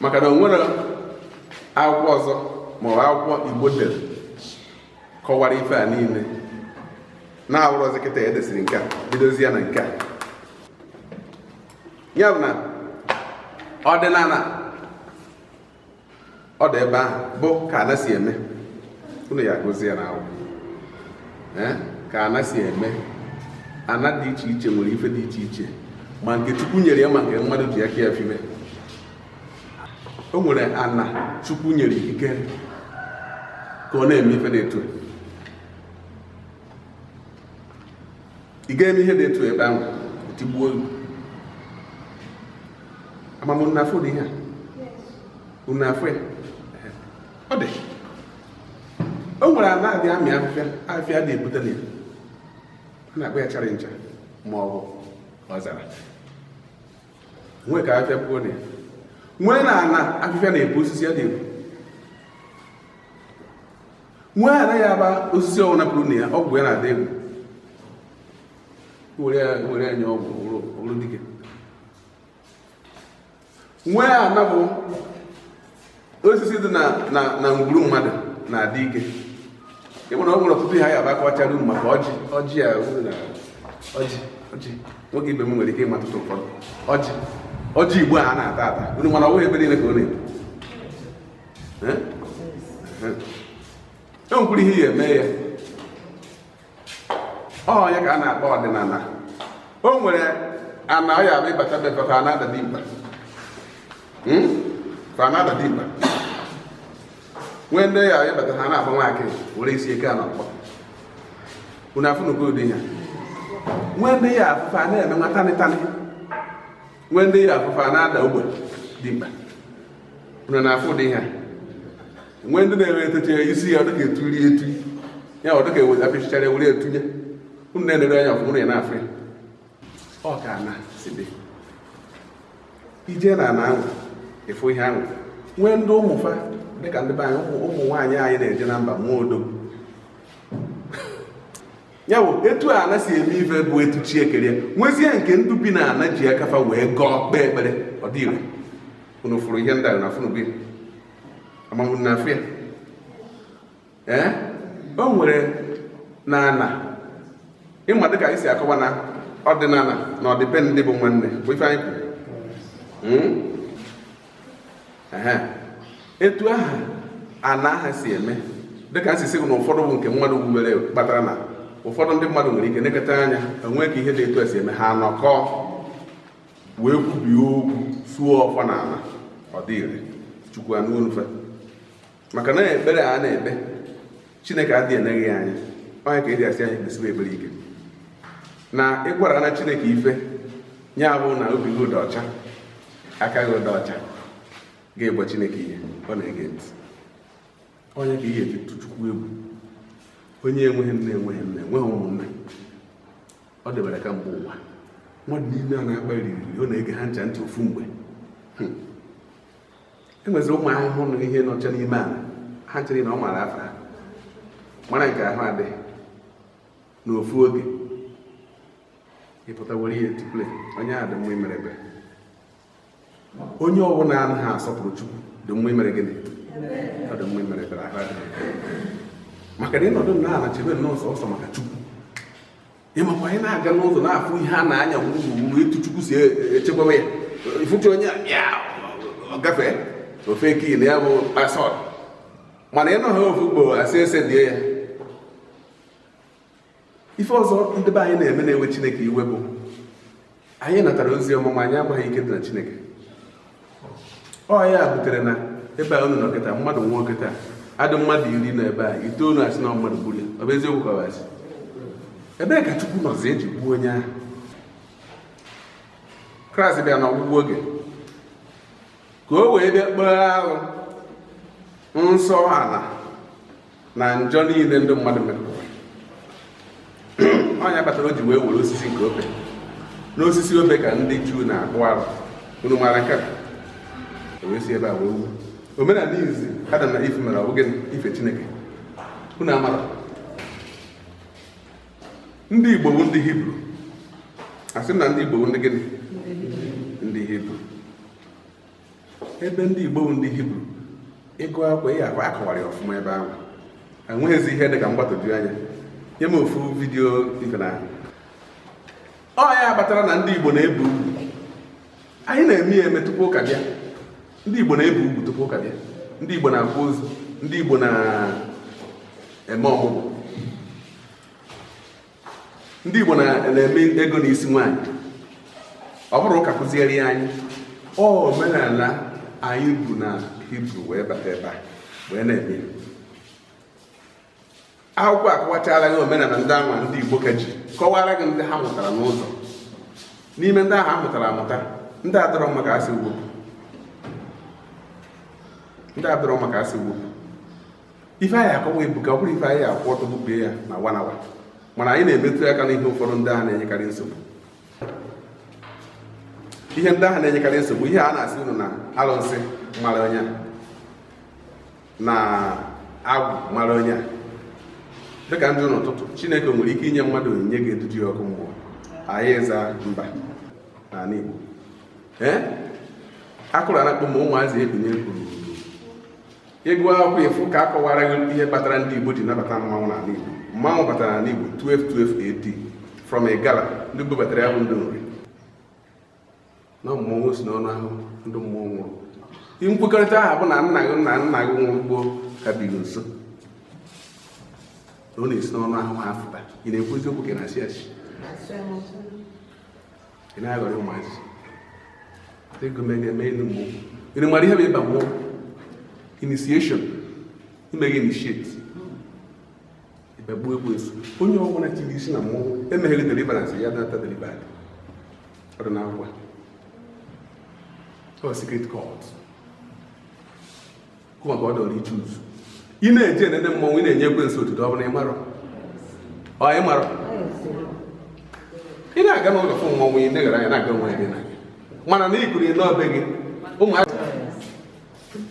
maka na o nwere akwụkwọ ọzọ ma ọ bụ akwụkwọ igbo dere kọwara ife a niile na-awụrọzi kịta edesiri nke a bidozia na nke a ya bụ na ọdịnana ọ dị ebe ahụ bụ ka ana si eme unu ya gozie ya na ọ wụ ka ana si eme ana dị iche iche nwere ife dị iche iche ma nke chukwu nyere ya ma nke mmadụ ji aka ya fibe o nwere ana chukwu nyere ikike ka ọ na-eme ife dị etu ị ga-eme ihe dị etu ebe ahụ tigbuo olu ama m unu na-afụ ụdị ihe a unu na-afụ ya ọ dị o nwere ana adị amị afịfịa afịa adị epute na ya a na-akpọ ya chara ncha ma ọ bụ ọzara nwee ka afịa pụọ na ya nwee na ana afịfịa na-epu osisi adị epu nwee ana ya abụ osisi ọwụna puru na ya ọgwụ ya na-adị egwu were ya nye ọgwụ ọrụ dike nwee ana bụ osisi dị na ngwuru mmadụ na-adị ike ị ma na o nwere ọtụtụ ihe ya abụ akọchara unu maka ọjị ọjị ya ọjị ọjị nwoke ibe m nwere ike ịma tụtụ ụfọdụ ọjị ọjị igbo a na-ata ata unu ma na ọ bụghị ebe niile ka ọ na-epu e nwekwuru ihe ya eme ya ọ ya ka a na-akpọ ọdịnana o nwere ana ya abụ ị bata be fa fa na-ada dimkpa hmm? fa na-ada dimkpa nwee ndị ya ịbata ha na-akpọ nwaakị were isi eke a na ọkpọ unu afụnugo ụdị ya nwee ndị ya afụ fa na-eme nwa tanịtanị nwee ndị ya afụ fa na-ada ogbe dimkpa unu na-afụ ụdị ihe nwee ndị na-enwe etecha isi ya ọ dịka eturi etu ya ọ dịka eweta pịchịchara were etunye unu na-enere anya ọfụma ya na-afụ ya ọ ka ana si dị ị je na ana ahụ ị fụ ihe ahụ nwee ndị ụmụ fa dịka ndị be anyị ụmụ nwaanyị anyị na-eje na mba nwee odogwu ya bụ etu ana si eme ife bụ etu chi kere ya nwezie nke ndị bi na ana ji aka fa wee gọọ kpee ekpere ọ dị ire unu fụrụ ihe ndị a na afụnubu ama m unu na-afụ ya ee o nwere na ana ị ma dịka anyị si akọwa na ọdịnana na ọdịbendị bụ nwanne bụ ife anyị kwuru hmm? etu aha ana aha si eme dịka m si sị gị na ụfọdụ bụ nke mmadụ wubere kpatara na ụfọdụ ndị mmadụ nwere ike neketa anya o nwee ka ihe dị etu esi eme ha anọkọ wee kwubie okwu suo ọfọ na ala ọ dị ire chukwu anụ onu fa maka na ekpere a na-ekpe chineke adịghị eneghị ya anya onye ka e ji asị anyị kpesiwe ekpere ike na ịgwara na chineke ife ya bụ na obi gị dị ọcha aka gị dị ọcha gị gwa chineke ihe ọ na-ege ntị onye ka ihe eji chukwu egwu onye enweghị nne enweghị nne enweghị ụmụnne ọ debere ka mgbe ụwa mmadụ niile a na-akwa arịrị ọ na-ege ha ncha ntị ofu mgbe hmm. e nwezi ụmụ ahụhụ na ihe nọcha n'ime ala ha ncha na ọ mara afa ha mara nke ahụ adịghị n'ofu oge ịpụta were ihe tuple onye ahụ dị mma imere ebere onye ọbụla anaghị asọpụrụ chukwu dị mma imere gịnị ọ dị mma imere ebere ahụ adịghị maka na ịnọdụ na ala chebe nnọọ sọsọ maka chukwu ịmakwa anyị na-aga n'ụzọ na-afụ ihe a na-anya wuruwuru etu chukwu si echekwaba ya ị fụta onye a ọ gafee ofe kii na ya bụ pasọd mana ịnọ ha ofu ugbo asị ese die ya ife ọzọ ndị be anyị na-eme na-ewe chineke iwe bụ anyị natara ozi ọma ma anyị amaghị ike dị na chineke ọ ya butere na ebe a unu nọ kịta mmadụ nwụọ kịta adị mmadụ iri nọ ebe a itoolu asị na mmadụ gburu ya ọ bụ eziokwu ka ọ bụ asị ebee ka chukwu nọzi eji gbuo onye ahụ kraịst bịa na ọgwụgwụ oge ka o wee bịa kpee arụ nsọ ala na njọ niile ndị mmadụ mere ọ ya kpatara o ji wee were osisi nke obe n'osisi obe ka ndị juu na-akpụ arụ unu mara nke a o wee si ebe a wee wu omenala izizi adam na iv mere ọbụghị ife chineke unu amara ndị igbo bụ ndị hibru asị m na ndị igbo bụ ndị gịnị ebe ndị Igbo bụ ndị Hibru ịgụ akwụkwọ ihe akwa akọwara ya ọfụma ebe ahụ enweghịzi ihe dị ka mgbagwoju anya nye m ofu vidiyo ife na ọ ya kpatara na ndị Igbo na-ebi ugwu anyị na-eme ya eme tupu ụka bịa ndị Igbo na-ebi ugwu tupu ụka bịa ndị Igbo na-akwa ozu ndị Igbo na-eme ọmụgwọ ndị Igbo na-eme ego n'isi nwaanyị ọ bụrọ ụka kuziere ya anyị ọ omenala anyị bu na Hibru wee bata ebe a wee na-eme akwụkwọ akọwachala gị omenala ndị anwa ndị Igbo ka ji kọwara gị ndị ha mụtara n'ụzọ n'ime ndị ahụ ha mụtara amụta ndị adọrọ mma ka a sị wepụ ndị adọrọ mma ka a sị wepụ ife a ya-akọwa ebuka ọ bụrọ ife a ya-akwụ ọtọ bubie ya na one hour mana anyị na-emetụ aka n'ihe ụfọdụ ndị ahụ na-enyekarị nsogbu ihe ndị ahụ na-enyekarị nsogbu ihe a na-asị unu na alụsị mara onye na agwụ mara onye dịka ndị n'ụtụtụ chineke nwere ike inye mmadụ onyinye ga-edudu ya ọkụ mmụọ anyị aza mba n'ala igbo ee akụrụ anakpụ ma ụmụazị ebinye kwuru Ị gụọ akwụkwọ ị fụ ka a kọwara gị ihe kpatara ndị Igbo ji nabata mmanwụ n'ala Igbo. Mmanwụ batara n'ala Igbo 1212 AD from Igala ndị bubatara ya bụ ndị Nri na mmọnwụ si n'ọnụ ahụ ndị mmụọ nwụrụ. Ihe nkwekọrịta ahụ bụ na nna gị na nna gị nwụrụ gboo ka biri nso na ọ na-esi n'ọnụ ahụhụ afụta ị na-ekwu eziokwu ka ị na-asị asị ị na-aghọrị ụmụazị ego mere eme elu mgbe unu mara ihe bụ ịba mmụọ initiation ime gị initiate ịbagbuo ekwensu onye ọbụla tiri isi na mmụọ emeghere deliverance ya data delivered ọ dị n'akwụkwọ ọ secret cult maka ọ dọrọ iche uzu ị na-eje enene mmọnwụ ị na-enye ekwensu otuto ọ bụ na ị marọ ọ ị marọ ị na-aga n'ụlọ fụ mmọnwụ ị na-egara anya na-aga onwe gị na mana na ikuri n'ọbe gị ụmụaka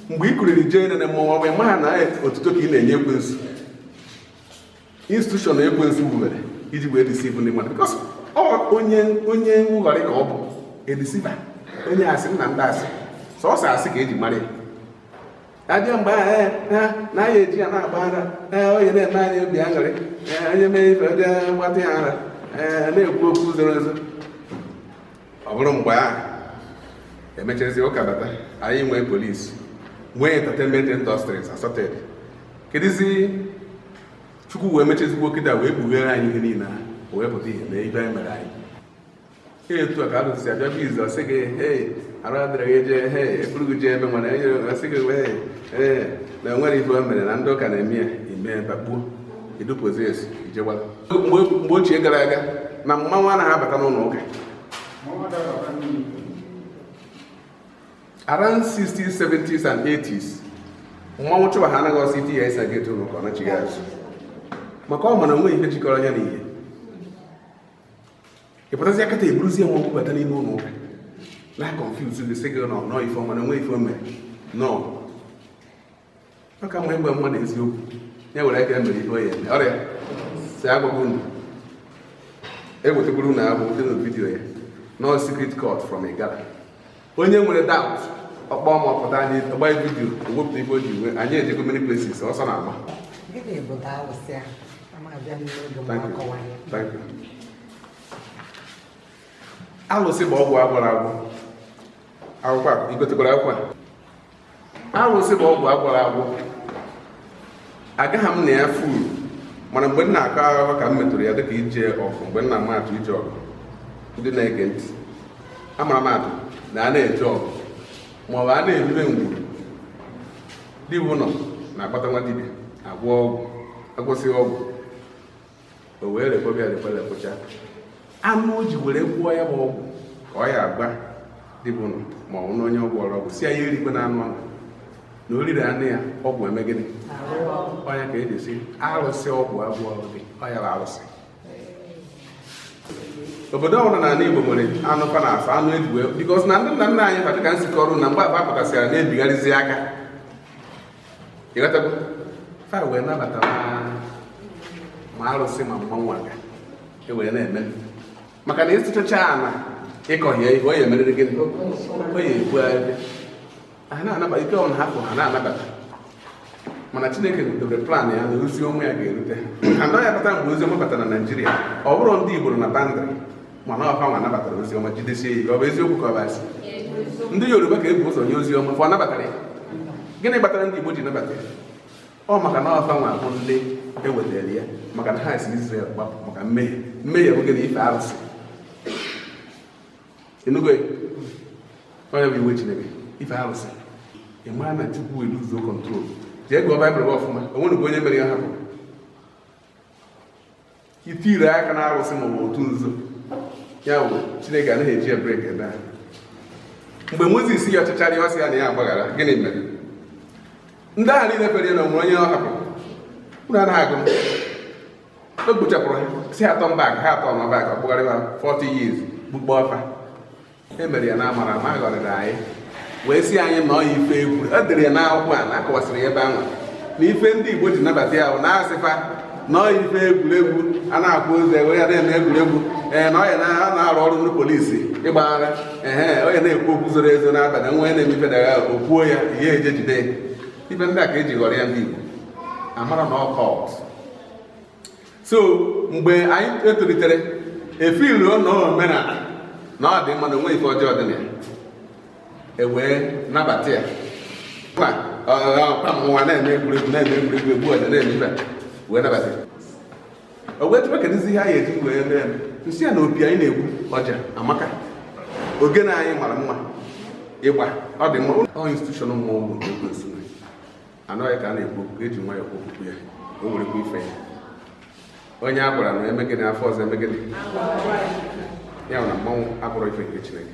mgbe ị kuriri jee enene mmọnwụ ọ bụ ị maha na otuto ka ị na-enye ekwensu institution ekwensu wubere iji wee deceive ndị mmadụ because onye onye nghọrị ka ọ bụ a deceiver onye asị nna ndị asị sọsọ asị ka eji mara ya a bịa mgbe ahụ eh, eh, na anyị eji ya na-agba ara eh, onye na-eme anyị obi aṅụrị onye mee ife dị mgbatị ya ara na-ekwu okwu zoro ezo ọ bụrụ mgbe ahụ e mechazi ụka bata anyị nwee police nwee entertainment industries assorted kedụzi chukwu wee mechazikwa kịta wee kpughere anyị ihe niile ahụ o wee pụta ihe mee ibe anyị mere anyị etu a ka a dụzi abịa biz ọ sị gị hei arụ adịrị gị jee hei eburu gị jee ebe nwere enye ọ sị gị wee ee na enwere ife o mere na ndị ụka na-eme ya ime bakpuo idupụzi esi ijegbara mgbe ochie gara aga na mmanwụ anaghị abata n'ụlọ ụka around 60s 70s and 80s mmanwụ chụwa ha anaghị ọsọ iti ya ịsa gị etu ụlọ ụka ọ nachigha azụ maka ọ ma na onweghị ihe jikọrọ anya na ihe ị pụtazi kịta eburuzie mmanwụ bata n'ime ụlọ ụka na confuse gị sị gị na ọ ife ọma na onwe ife o mere nọ ọ ka mma ịgwa mmadụ eziokwu ya were aka mere ihe ọ ya eme ọrịa si agwagwa unu ewetakwuru unu abụ dị na vidiyo ya na ọ secret cult from igala onye nwere doubt ọ kpọọ m ọ pụta anyị gba vidiyo ewepụta ife o ji nwe anyị ejego many places ọsọ na agba alụsị bụ ọgwụ agwọrọ agwọ akwụkwọ a igotekwara akwụkwọ a arụsị bụ ọgwụ agwọrọ agwọ agaghị m na ya fully mana mgbe m na-akọ akụkọ ka m metụrụ ya dịka ije ọgụ mgbe m na-ama atụ ije ọgụ ndị na-ege ntị amara m atụ na a na-eje ọgụ ma ọ bụ a na-erube ngwuru dibụnọ na-akpọta nwa dibịa agwọ ọgwụ agwọsịa ọgwụ o wee rekwebe rekwelepụcha anụ o ji were gwọọ ya bụ ọgwụ ka ọ ya agwa dibụnọ ma ọ na onye ọ gwọọrọ ọgwụ sị ya ya erikwena anụ ahụ na o riri anụ ya ọgwụ eme gịnị ọ nya ka eji sị arụsị ọgwụ agwọrọ dị ọ ya bụ arụsị obodo ọbụla na ala Igbo nwere anụ fa na asọ anụ eji wee because na ndị nna nna anyị fa dịka m si kọọrọ na mgbe fa pụtasịra na-ebigharịzi aka ịghọtago fa wee nabata ma arụsị ma mmanwụ aga e wee na-eme maka na ịsụchacha ala ịkọghị ihe o ya emerịrị gịnị o ya epu ebe ha na-anabata ike ọbụla ha fụ ha na-anabata mana chineke dobere plan ya na ozi ọma ya ga-erute ha and ọ ya abata mgbe ozi ọma batara na naijiria ọ bụrọ ndị igbo na boundary mana ọ fa nwa nabatara ozi ọma jidesie ike ọ bụ eziokwu ka ọ bụ asị ndị yoruba ka ebu ụzọ nye ozi ọma fa nabatara ya gịnị kpatara ndị igbo ji nabata ya ọ maka na ọ fa nwa bụ ndị ewetara ya maka na ha si Izrel gbapụ maka mmehie mmehie bụ gịnị ife arụsị ị nụgo ọ nya bụ iwe chineke ife arụsị ị mara na chukwu eluzuo control jee gụọ baịbụl gị ọfụma onwerọ onye mere ya hapụ itire aka na arụsị maọbụ otu nzuzo ya bụ chineke anaghị eji ebrik ebe a mgbe mozis yọchachara ya ọ sị ya na ya agbaghara gịnị mere ndị ahụ niile fere ya na onwere onye ọ hapụrụ unu anaghị agụ o gbuchapụrụ ha sị ha turn back ha turn back ọ kpụgharịba 40 years gbukpọọ fa e mere ya na amara ma ghọrịrị anyị wee si anyị na ọọ ife egwu e dere ya n'akwụkwọ a na-akọwasịrị ya ebe ahụ na ife ndị Igbo ji nabata ya bụ na a sị fa na ọọ ife egwuregwu a na-akpụ ozi ewere ya na-eme egwuregwu ee na ọọ ya na-arụ ọrụ ndị polisi ịgbaghara ehe onye na-ekwu okwu zoro ezo n'abalị nwa onye na-eme ife dagha okwuo ya ihe eje jide ife ndị a ka eji ghọrịa ndị Igbo amarọ na ọ cult so mgbe anyị etolitere e feelu na omenala na ọ dị mma na o nweghị ife ọjọọ dị na ya ewee nabata ya kwa mụnwa na-eme egwuregwu na-eme egwuregwu egbu ọja na-eme ife wee nabata ya o wee jụba kedụzi ihe anyị eji wee mee ya m sị ya na opi anyị na-egbu ọja amaka ogene anyị mara mma ịgba ọ dị mma ọ institution mmanwụ bụ ekwensu anọghị ka a na-ekwu okwu eji nwayọọ kwuo okwu ya o nwerekwa ife ya onye a gwara na e mee gịnị afọ ọzọ e mee gịnị ya na mmanwụ abụrụ ife nke chineke